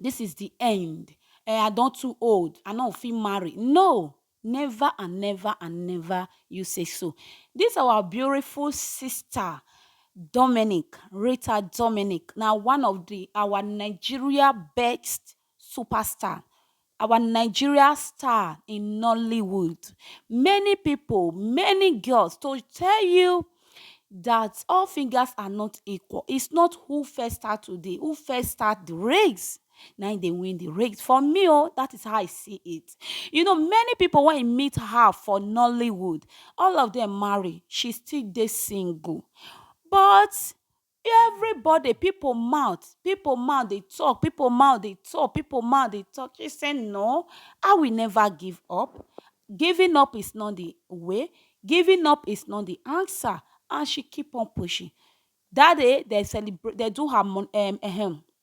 This is the end eh I don too old I no fit marry no never and never and never you say so this our beautiful sister Dominic Rita Dominic na one of the our Nigeria best superstar Our Nigeria star in Nollywood, many pipo, many girls to tell you dat all fingers are not equal, it's not who first start today, who first start di race na im dey win di race, for me o dat is how I see it, you know many pipo wen you meet her for Nollywood all of dem marry she still dey single but Everybody, people mouth, people mouth dey talk, people mouth dey talk, people mouth dey talk. She say, No, I will never give up. Giving up is not the way, giving up is not the answer. And she keep on pushing. That day, they celebrate, they do her um, um,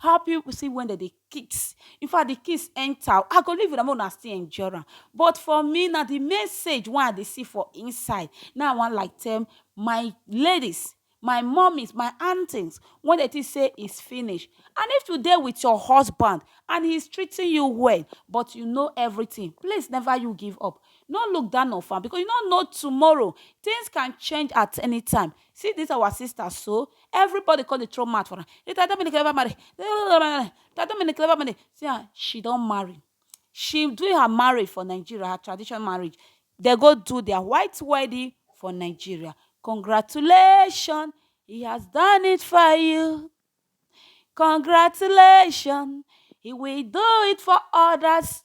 How pipu see wen dem dey kiss. In fact, di kiss enter o! I go leave una make una still enjoy am. But for me, na di message wey I dey see for inside na im I wan like tell my ladies, my mummies, my aunties wey dey think say it's finish. And if you dey with your husband and he's treating you well, but you know everything, please never you give up. No look down of am because you no know tomorrow. Things can change at anytime. See this our sister so, everybody come dey throw mouth for am. Rita Dominic never marry. Rita Dominic never marry. See am, she don marry. She do her marriage for Nigeria, her traditional marriage. They go do their white wedding for Nigeria. Congratulations, he has done it for you. Congratulations, he will do it for others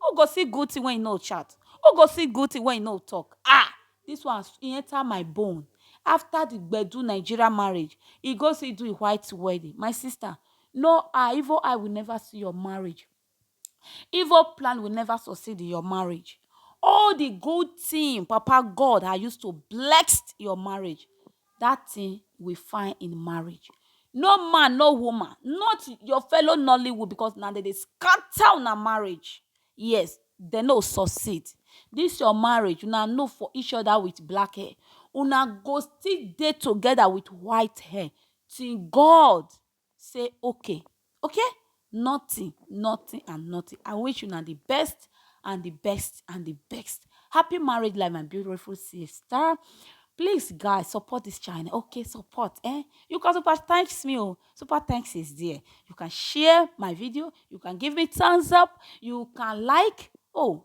Who go see good thing wey he no chat? Who go see good thing wey he no talk? Ah! This one he enter my bone. After the gbedu Nigeria marriage, he go see do a white wedding. My sister, no eye, evil eye will never see your marriage. Evil plan will never succeed in your marriage. All the good thing Papa God I used to bless your marriage. that thing we find in marriage no man no woman not your fellow nollywood because na dem dey scatter una marriage yes dem no succeed this your marriage una know for each other with black hair una go still dey together with white hair till God say okay okay nothing nothing and nothing i wish una the best and the best and the best happy marriage life my beautiful sister please guys support this channel okay support eh you can super thanks me oh super thanks is there you can share my video you can give me thumbs up you can like oh